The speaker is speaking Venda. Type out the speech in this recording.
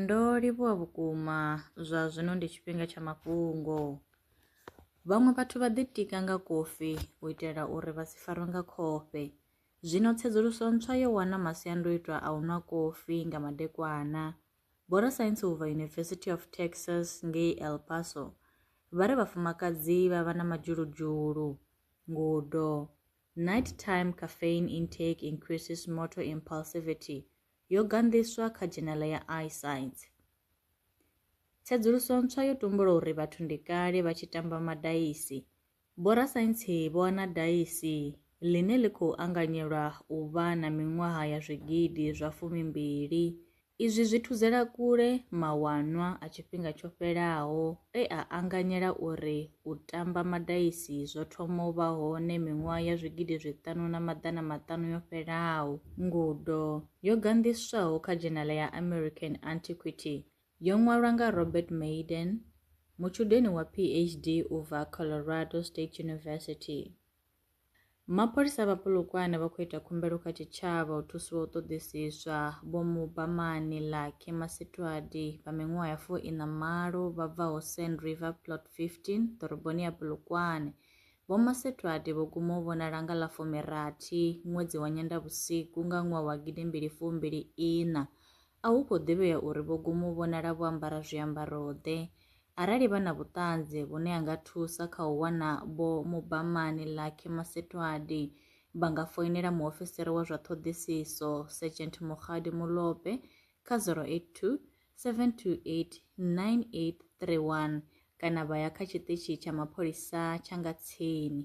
Ndo livhuwa vhukuma zwa zwino ndi tshifhinga tsha mafhungo. Vhaṅwe vhathu vha ḓitika nga kofi u itela uri vha si farwe nga khofhe. Zwino tsedzuluso ntswa yo wana masiandoitwa a u nwa kofi nga madekwana. Vhorasaintsi u bva University of Texas ngei El Paso vha ri vhafumakadzi vha vha na madzhuludzhulu. Ngudo, Nighttime caffeine intake increases motor impulsivity, yo ganḓiswa kha dzhenala ya iScience. Tsedzuluso ntswa yo tumbula uri vhathu ndi kale vha tshi tamba madaisi. Vhorasaintsi vho wana daisi ḽine ḽi khou anganyelwa u vha na miṅwaha ya zwigidi zwa fumimbili. Izwi zwi thudzela kule mawanwa a tshifhinga tsho fhelaho e a anganyela uri U tamba madaisi zwo thoma u vha hone miṅwaha ya zwigidi zwiṱanu na maḓana maṱanu yo fhelaho. Ngudo yo ganḓiswaho kha dzhenala ya American Antiquity yo ṅwalwa nga Robert Maiden, mutshudeni wa PhD u bva Colorado State University. Mapholisa vha Polokwane vha khou ita khumbelo kha tshitshavha u thusiwa u ṱoḓisiswa Vho Mubamani Lucky Masitwadi vha miṅwaha ya fu ina malo vha bvaho Sand River Plot 15 ḓoroboni ya Polokwane. Vho Masitwadi vho guma u vhonala nga ḽa fumi rathi ṅwedzi wa Nyendavhusiku nga ṅwaha wa gidi mbili fu mbili ina a hu khou ḓivhea uri vho guma u vhonala vho ambara zwiambaro-ḓe. Arali vha na vhuṱanzi vhune ha nga thusa kha u wana Vho Mubamani Lucky Masetoadi, vha nga foinela muofisiri wa zwa ṱhoḓisiso, Sergeant Mokgadi Molope, kha 082 728 9831 kana vha ya kha tshiṱitshi tsha mapholisa tsha nga tsini.